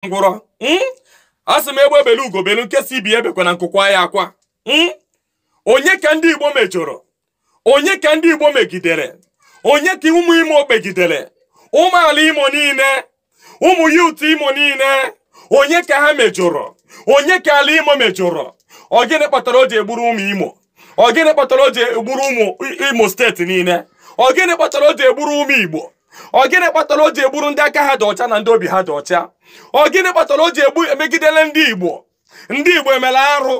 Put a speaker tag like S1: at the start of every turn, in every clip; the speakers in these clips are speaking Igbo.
S1: ngwụrọ hmm? a sị m egbe belu ugo belu nke si ibe ya ebekwana nku kwaa ya akwa hmm? onye ka ndị igbo mejọrọ onye ka ndị igbo megidere onye ka ụmụ imo megidere ụmụ ala imo niile ụmụ youth imo niile onye ka ha mejọrọ onye ka ala imo mejọrọ ọ gịnị kpatara o ji egburu ụmụ imo ọ gịnị kpatara o ji egburu ụmụ imo state niile ọ gịnị kpatara o ji egburu ụmụ igbo ọ gịnị kpatara o ji egburu ndị aka ha dị ọcha na ndị obi ha dị ọcha ọ gịnị kpatara o ji egbu emegidele ndị igbo ndị igbo emere arụ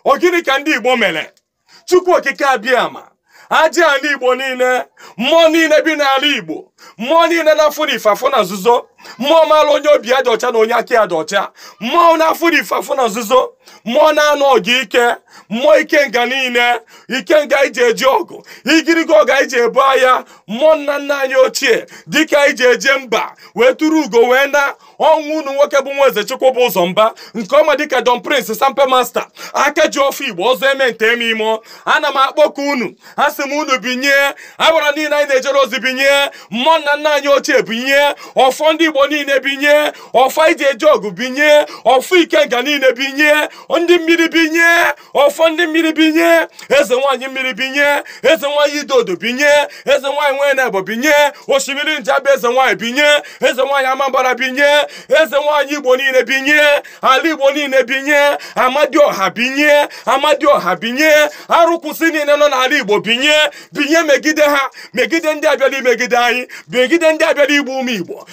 S1: ọ gịnị ka ndị igbo mere chukwu okike abịama aja ala igbo niile mmụọ niile bi n'ala igbo mmụọ niile na-afụ n'ife afụ na nzuzo mmụọ maara onye obi ya dị ọcha na onye aka ya dị ọcha mmụọ na-afụ n'ife afụ na nzuzo mmụọ na-anụ ọgụ ike mmụọ ikenga niile ikenga anyị ji eje ọgụ igirigo ọgụ anyị ji ebu agha mmụọ nna nna anyị ochie dike anyị ji eje mba wee turu ugo wee naa ọ nwa unu nwoke bụ nwa eze chukwu bụ ụzọ mba nke a ma dịka don prince sampe master aka ji ọfọ igbo ọzọ eme nte eme ime ana m akpọku unu a sị m unu binye agbara niile anyị na-ejere ozi binye mmụọ nna nna anyị ochie binye ọfọ ndị igbo niile binye ọfọ anyị ji eje ọgụ binye ọfọ ikenga niile binye ndị mmiri binye ọfọ ndị mmiri binye eze nwaanyị mmiri binye eze nwaanyị idodo binye eze nwaanyị nwanyị na-ebo binye osimiri njaba eze nwaanyị binye eze nwaanyị amambara binye eze nwaanyị igbo niile binye ala igbo niile binye amadioha binye amadioha binye arụkwụsị niile nọ n'ala igbo binye binye megide ha megide ndị a bịara imegide anyị megide ndị a bịara igbu ụmụ igbo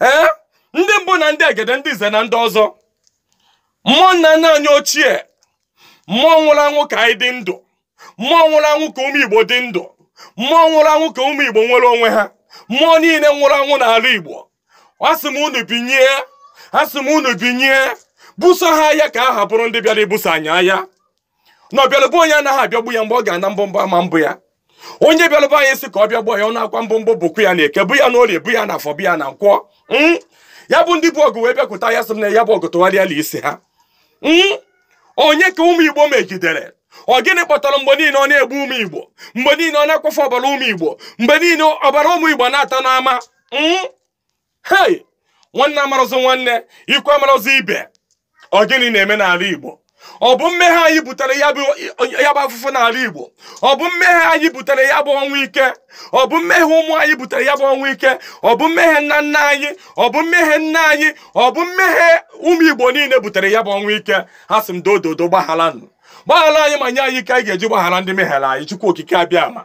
S1: ee ndị mbụ na ndị egede ndị nze na ndị ọzọ mmụọ nna nna anyị ochie mmụọ nwụrụ anwụ ka anyị dị ndụ mmụọ nwụrụ anwụ ka ụmụ igbo dị ndụ mmụọ nwụrụ anwụ ka ụmụ igbo nwere onwe ha mmụọ niile nwụrụ anwụ n'ala igbo asị m unu binye asị m unu binye buso ha agha ka agha buru ndị bịara ibuso anyị agha na ọ bịalụ be onye anaghị abịagbu ya mgbe ọ ga-ana mkpumkpu ama apụ ya onye bịalụ be anyị sị ka ọ bịagbuo anyị ọ naakwa mkpumkpu pụkwa ya n'eke pụ ya n'orie pụ ya n'afọ pụ ya na nkwọ Mm. ya bụ ndị bu ọgụ wee bịakwute anyị a sị m na ya bụ ọgụ tụgharịa laa isi ha Mm. onye ka ụmụ igbo megidere ọ gịnị kpatara mgbe niile ọ na-egbu ụmụ igbo mgbe niile ọ na-akwafu ọbara ụmụ igbo mgbe niile ọbara ụmụ igbo na-ata n'ama Mm. hei nwanne amarọzị nwanne ikwu amarọzị ibe ọ gịnị na-eme n'ala igbo ọ bụ mmehie anyị butere ya bụ afụfụ n'ala igbo ọ bụ mmehie anyị butere ya bụ ọnwụ ike ọ bụ mmehie ụmụ anyị butere ya bụ ọnwụ ike ọ bụ mmehie nna nna anyị ọ bụ mmehie nna anyị ọ bụ mmehie ụmụ igbo niile butere ya bụ ọnwụ ike a sị m doo doo doo gbagharanụ gbaghara anyị ma nye anyị ike anyị ga-eji gbaghara ndị mehiere anyị chukwu okike abịama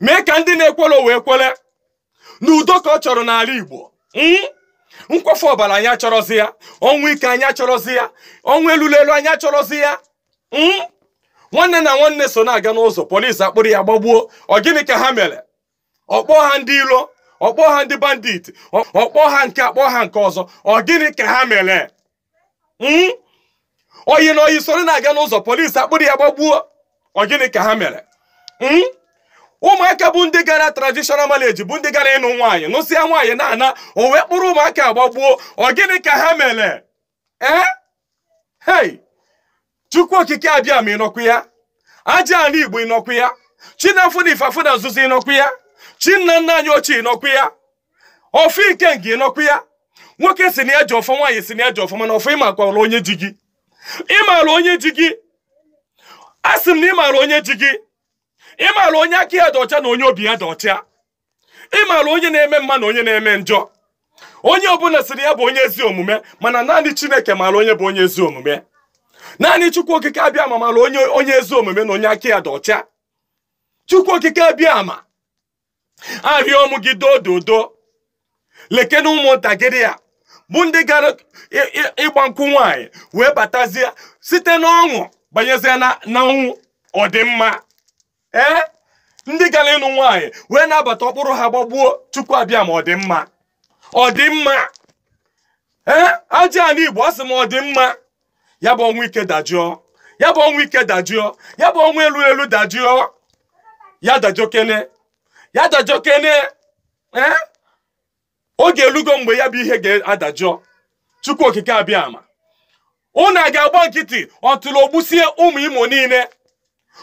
S1: mee ka ndị na-ekwere o wee kwere na udo ka ọ chọrọ n'ala igbo Mm? nkwafu ọbara anyị achọrọzi ya ọnwụ ike anyị achọrọzi ya ọnwụ elulu elu anyị achọrọzi ya Mm? nwanne na nwanne so na-aga n'ụzọ polisi akpụrụ ya gbagbuo ọ gịnị ka ha mere ọ kpọọ ha ndị ilo ọ kpọọ ha ndị bandit ọ kpọọ ha nke a kpọọ ha nke ọzọ ọ gịnị ka ha mere hmm? ọyị na ọyị soro na-aga n'ụzọ polisi akpụrụ ya gbagbuo ọ gịnị ka ha mere hmm? ụmụaka bụ ndị gara traditional marriage bụ ndị gara ịnụ nwaanyị nụsịa nwaanyị na-ana o wee kpụrụ ụmụaka a gbagbuo ọ gịnị ka ha mere ee eh? hei chukwu okike abịama ị nọkwu ya aja ala igbo ị nọkwu ya chi na-afụ na ife afụ na nzuzo ị nọkwu ya chi nna nna anyị ochie ị nọkwu ya ọfọ ikenga ị nọkwu ya nwoke si na ya ji ọfọ nwaanyị si na ya ji ọfọ mana ọfọ ị makwara onye ji gị ị maara onye ji gị a sị m na ị maara onye ji gị ị maara onye aka ya dị ọcha na onye obi ya dị ọcha ị maara onye na-eme mma na onye na-eme njọ onye ọbụla sịrị ya bụ onye ezi omume mana naanị chineke maara onye bụ onye ezi omume naanị chukwu okike abịama maara onye onye ezi omume na onye aka ya dị ọcha chukwu okike abịama arịọ m gị dododo lekene ụmụntakịrị a bụ ndị gara ị- ị- ịgba nkwụ nwaanyị wee batazie site n'ọṅụ banyezie na na ọnwụ ọ dị mma ee ndị gara ịnụ nwaanyị wee na-abata ọ kpụrụ ha gbagbuo chukwu abịama ọ dị mma ọ dị mma ee aja ala igbo a sị m ọ dị mma ya bụ ọnwụ ike dajụọ ya bụ ọnwụ ike dajụọ ya bụ ọnwụ elu elu dajụọ ya dajụọkene ya dajụọkene ee oge elugo mgbe ya bụ ihe ga-adajụọ chukwu okike abịama unu a ga-agba nkịtị otu a o gbusie ụmụ imo niile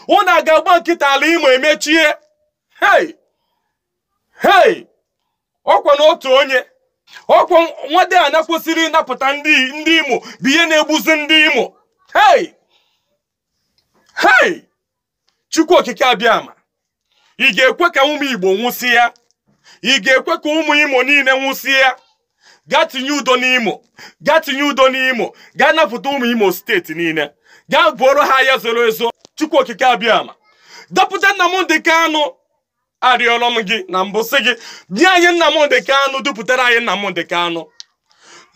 S1: unu a ga-agba nkịtị ala imo emechie hei hei ọkwa na otu onye ọkwa nwade a na kwesịrị ịnapụta ndị ndị imo bụ ihe na-egbuzi ndị imo hei hei chukwu okike abịama ị ga-ekwe ka ụmụ igbo nwụsịa ị ga-ekwe ka ụmụ imo niile nwụsịa gaa tinye udo n'imo gaa tinye udo n'imo gaa napụta ụmụ imo steeti niile gaa buoro ha aya zoro ezo chukwu okike abịama dọpụta Nnamdi Kanu arịọrọ m gị na mbụ sị gị nye anyị Nnamdị Kanụ dupụtara anyị Nnamdị Kanụ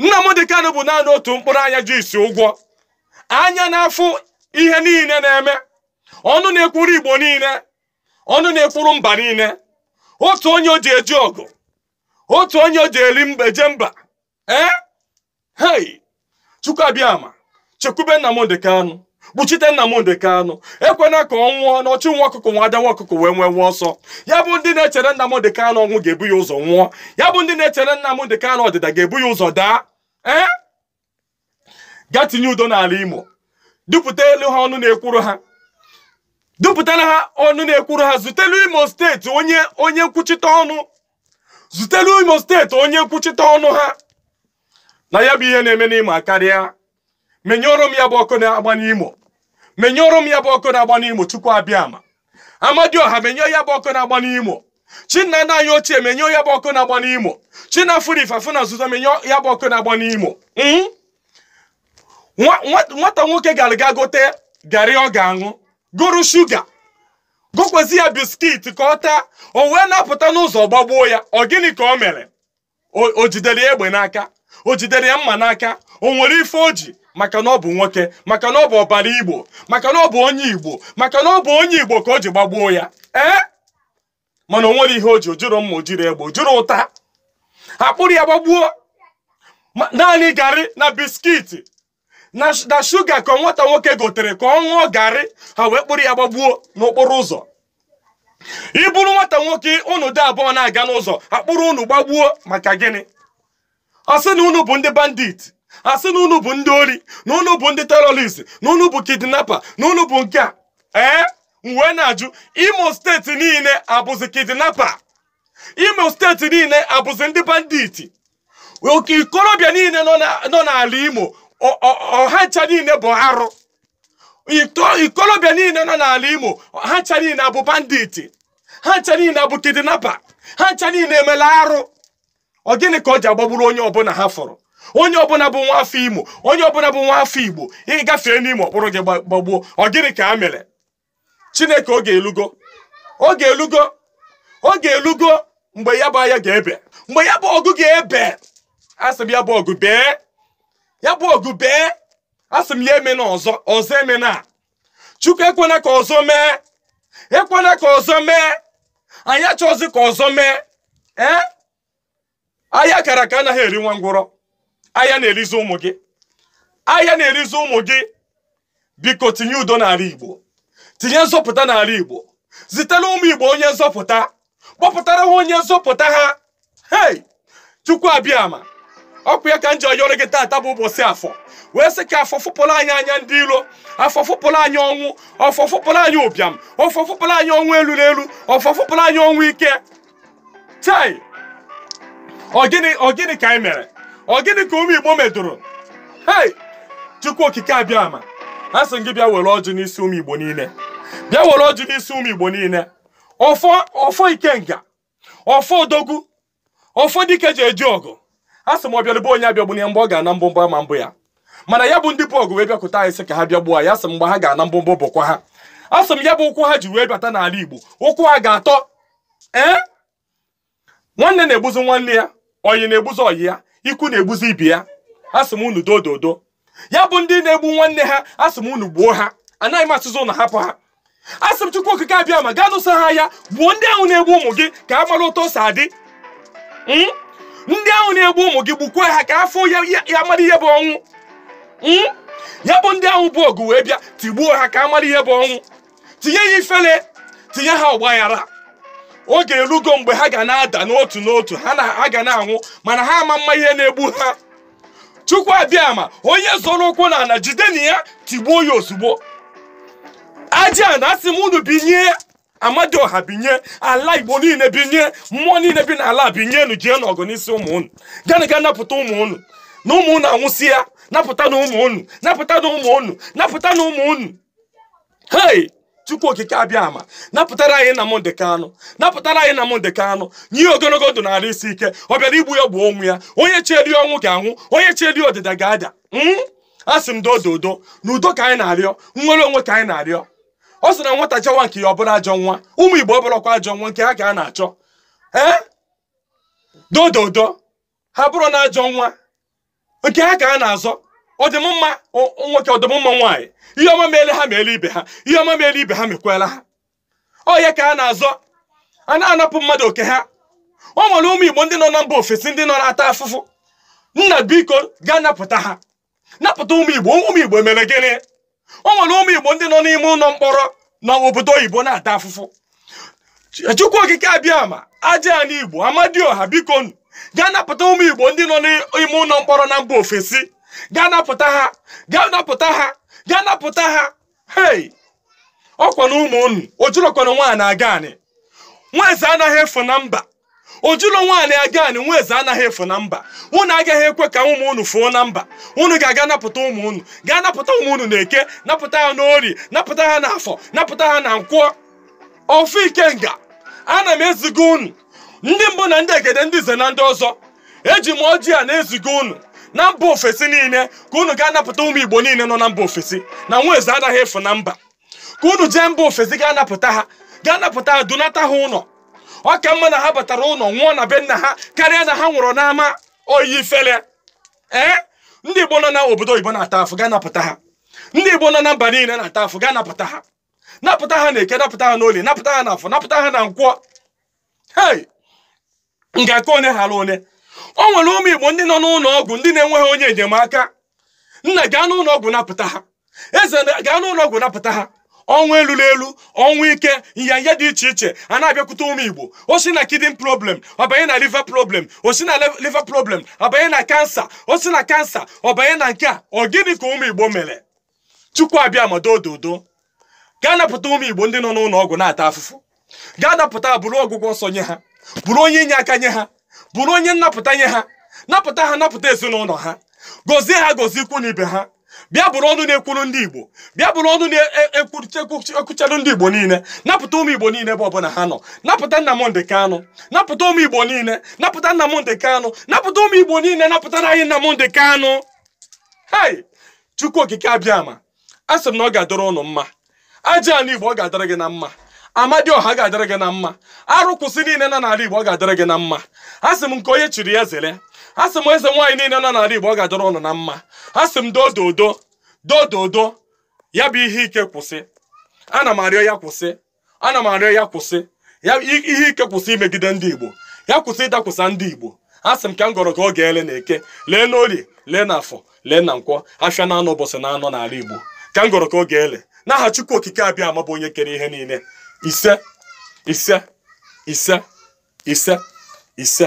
S1: Nnamdị Kanụ bụ naanị otu mkpụrụ anya ji isi ụgwọ anya na-afụ ihe niile na-eme ọnụ na-ekwuru Igbo niile ọnụ na-ekwuru mba niile otu onye o ji eje ọgụ otu onye o ji eri mba eje mba ee hei chukwu abịama chekwube Nnamdi Kanu kpuchite Nnamdi Kanu ekwena ka ọ nwụọ na ọchụ nwa ọkụkụ nwe ada nwa ọkụkụ nwe nwe nwe ọsọ ya bụ ndị na-echere Nnamdi Kanu ọnwụ ga-ebu ya ụzọ nwụọ ya bụ ndị na-echere Nnamdi Kanu ọdịda ga-ebu ya ụzọ daa ee gaa tinye udo n'ala Imo dupụtalụ ha ọnụ na-ekwuru ha dupụtara ha ọnụ na-ekwuru ha zutelu Imo steeti onye onye nkwuchite ọnụ zutelu imo steeti onye nkwuchite ọnụ ha na ya bụ ihe na-eme n'imo akarịa menyụọrọ m ya bụ ọkụ na-agba n'imo menyụọrọ m ya bụ ọkụ na-agba n'imo chukwu abịama amadioha menyụọ ya bụ ọkụ na-agba n'imo chinna nna anyị ochie menyụọ ya bụ ọkụ na-agba n'imo chinna fụrụ ife afụ na nzuzo menyụọ ya bụ ọkụ na-agba n'imo Mm? Nwa- nwa- nwata nwoke gara ga gote garị ọ ga-aṅụ goro shuga gokwezi ya biskit ka ọ taa o wee na-apụta n'ụzọ gbagbuo ya ọ gịnị ka o mere O- o jidere ya egbe n'aka o jidere ya mma n'aka o nwere ife o ji maka na ọ bụ nwoke maka na ọ bụ ọbara igbo maka na ọ bụ onye igbo maka na ọ bụ onye igbo ka o ji gbagbuo ya ee mana o nwere ihe o ji o jiri mma o jiri egbe o jiri ụta a kpụrụ ya gbagbuo Ma- naanị garị na biskiti na sh- na shuga ka nwata nwoke gotere ka ọ ṅụọ garị ha wee kpụrụ ya gbagbuo n'okporo ụzọ ị bụrụ nwata nwoke unu dị abụọ na-aga n'ụzọ a kpụrụ unu gbagbuo maka gịnị a sị na unu bụ ndị bandit a sị na unu bụ ndị ori na unu bụ ndị terrorist na unu bụ kidnapa na unu bụ nke a ee m wee na-ajụ imo steeti niile abụzi kidnapa imo steeti niile abụzi ndị bandit oke ikorobịa niile nọ na- nọ n'ala imo ọ- ọ- ha ncha niile bụ arụ Ito- ikorobịa niile nọ n'ala imo ha ncha niile abụ bandit ha ncha niile abụ kidnapa ha ncha niile emela arụ ọ gịnị ka o ji agbagburu onye ọbụla ha fụrụ onye ọbụla bụ nwa afọ imo onye ọbụla bụ nwa afọ igbo ị gafee n'imo a kpụrụ gị gba- gbagbuo ọ gịnị ka a mere chineke oge elugo oge elugo oge elugo mgbe ya bụ aya ga-ebe mgbe ya bụ ọgụ ga-ebe asị m ya bụ ọgụ bee ya bụ ọgụ bee asị m ya emena ọzọ ọzọ emena chukwu ekwena ka ọzọ mee ekwena ka ọzọ mee anyị achọzi ka ọzọ mee ee aya a kara aka anaghị eri nwa ngwụrọ aya na-erizi ụmụ gị aya na-erizi ụmụ gị biko tinye udo n'ala igbo tinye nzọpụta n'ala igbo zitere ụmụ igbo onye nzọpụta kpọpụtara ha onye nzọpụta ha hei chukwu abịama ọ kwa ya ka m ji yọrọ gị taata bụ ụbọchị afọ wee sị ka afọ fụpụrụ anyị anya ndị iro afọ fụpụrụ anyị ọnwụ afọ fụpụrụ anyị ụbịam afọ fụpụrụ anyị ọnwụ elulu elu afọ fụpụrụ anyị ọnwụ ike chai ọ gịnị ọ gịnị ka anyị mere ọ gịnị ka ụmụ igbo medoro hei chukwu okike abịama a sị gị bịa were ọjị n'isi ụmụ igbo niile bịa were ọjị n'isi ụmụ igbo niile ọfọ ọfọ ikenga ọfọ odogwu ọfọ dike e ji eje ọgụ a sị m ọbịalụ be onye abịagbuna ya mgbe ọ ga-ana mkpumkpu ama apụ ya mana ya bụ ndị bu ọgụ wee bịakwute anyị sị ka ha bịa gbuo ya sị mgbe ha ga-ana mkpumkpu pụkwa ha a sị m ya bụ ụkwụ ha ji wee bata n'ala igbo ụkwụ ha ga-atọ ee nwanne na-egbuzi nwanne ya ọyị na-egbuzi ọyị ya ikwu na-egbuzi ibe ya asị m unu dododo ya bụ ndị na-egbu nwanne ha asị m unu gbuo ha anaghị m asịzi unu hapụ ha asị m chukwu okike abịama gaa nụso ha aya gbuo ndị ahụ na-egbu ụmụ gị ka ha mara otu o si adị Mm? ndị ahụ na-egbu ụmụ gị gbukwaa ha ka afọ ya ya- ya mara ihe bụ ọnwụ Mm? ya bụ ndị ahụ bu ọgụ wee bịa tigbuo ha ka ha mara ihe bụ ọnwụ tinye ha ifele tinye ha ọgbaghara oge erugo mgbe ha ga na-ada n'otu n'otu ha na ha ga na-anwụ mana ha ama ama ihe na-egbu ha chukwu abịama onye zọrọ ụkwụ n'ala jidenụ ya tigbuo ya ozugbo ajana asị m unu binie amadioha binie ala igbo niile binie mmụọ niile bi n'ala binienụ jee n'ọgụ n'isi ụmụ unu gaanụ gaa napụta ụmụ unu na ụmụ unu anwụsịa napụtanụ ụmụ unu napụtanụ ụmụ unu napụtanụ ụmụ unu hei chukwu okike abịama napụtara anyị nnamdi kanu napụtara anyị nnamdi kanu nye ogologo ndụ na arụ isi ike ọ bịara igbu ya gbuo onwe ya onye cheere ya ọnwụ ga-anwụ onye cheere ya ọdịda ga-ada mm? a sị m dododo na udo ka anyị na-arịọ nnwere onwe ka anyị na-arịọ ọ sị na nwata chọwa nke ya ọ bụrụ ajọ nwa ụmụ igbo abụrọkwa ajọ nwa nke ha ka ha na-achọ ee dododo ha abụrọnụ ajọ nwa oke ha ka ha na-azọ ọdịmma nwoke ọdịmma nwaanyị ihe ọma meele ha meele ibe ha ihe ọma meele ibe ha mekwela ha ọ ya ka ha na-azọ a na-anapụ mmadụ oke ha o nwere ụmụ igbo ndị nọ na mba ofesi ndị nọ na-ata afụfụ nna biko gaa napụta ha napụta ụmụ igbo ụmụ igbo mere gịnị o nwere ụmụ igbo ndị nọ n'ime ụlọ mkpọrọ na obodo oyibo na-ata afụfụ chukwu okike abịama aja anị igbo amadioha bikonụ gaa napụta ụmụ igbo ndị nọ n'ime ụlọ mkpọrọ na mba ofesi gaa napụta ha gaa napụta ha gaa napụta ha hei ọkwa na ụmụ unu ọ jụlụkwa na nwaanyị aga anị nwa eze anaghị efu na mba ọ jụlụ nwaanyị aga anị nwa eze anaghị efu na mba unu agaghị ekwe ka ụmụ unu fuo na mba unu ga-aga napụta ụmụ unu gaa napụta ụmụ unu n'eke napụta ha n'orie napụta ha n'afọ napụta ha na nkwọ ofu ikenga ana m eziga unu ndị mbụ na ndị egede ndị nze na ndị ọzọ eji m ọjị a na-eziga unu na mba ofesi niile ka unu gaa napụta ụmụ igbo niile nọ na mba ofesi na nwa eze anaghị efu na mba ka unu jee mba ofesi gaa napụta ha gaa napụta ha dunata ha ụlọ ọ ka mma na ha batara ụlọ nwụọ na be nna ha karịa na ha nwụrụ n'ama oyi ifele ee ndị igbo nọ na obodo oyibo na-ata afụ gaa napụta ha ndị igbo nọ na mba niile na-ata afụ gaa napụta ha napụta ha na eke napụta ha n'olie napụta ha na afọ napụta ha na nkwọ hei ngaka onye hara onye o nwere ụmụ igbo ndị nọ n'ụlọ ọgwụ ndị na-enweghị onye enyemaka nna gaa n'ụlọ ọgwụ napụta ha ezi nna gaa n'ụlọ ọgwụ napụta ha ọnwụ elu n'elu ọnwụ ike nyanya dị iche iche a na-abịakwute ụmụ igbo o si na kidney problem ọ banye na liver problem o si na le- liver problem ọ banye na kansa o si na kansa ọ banye na nke a ọ gịnị ka ụmụ igbo mere chukwu abịama doo dodo gaa napụta ụmụ igbo ndị nọ n'ụlọ ọgwụ na-ata afụfụ gaa napụta bụrụ ọgwụgwọ nsọ nye ha bụrụ onye inye aka nye ha bụrụ onye nnapụta nye ha napụta ha napụta ezinụlọ ha gọzie ha gọzie ikwu na ibe ha bịa bụrụ ọnụ na-ekwuru ndị igbo bịa bụrụ ọnụ na-ekwuchara ndị igbo niile napụta ụmụ igbo niile ebe ọbụla ha nọ napụta Nnamdị Kanụ napụta ụmụ igbo niile napụta Nnamdị Kanụ napụta ụmụ igbo niile napụtara anyị Nnamdị Kanụ hei chukwu okike abịama asị m na ọ ga-adịrị ụnụ mma aja ala igbo ọ ga-adịrị gị na mma amadịọha ga-adịrị gị na mma arụ kwụsị niile nọ n'ala igbo ọ ga-adịrị gị na mma asị m nke onye chiri ya zere asị m eze nwaanyị niile nọ n'ala igbo ọ ga-adịrị ụnụ na mma asị m dododo dododo ya bụ ihe ike kwụsị ana m arịọ ya kwụsị ana m arịọ ya kwụsị ihe ike kwụsị imegide ndị igbo ya kwụsị ịdakwụsa ndị igbo asị m ka m gọrọ ka ọ ga-ele na eke lee na orie lee na afọ lee na nkwọ afịa na anọ ụbọsị na anọ n'ala igbo ka m gọrọ ka ọ ga-ele n'aha chukwu okike abịama bụ onye kere ihe niile ise ise ise ise ise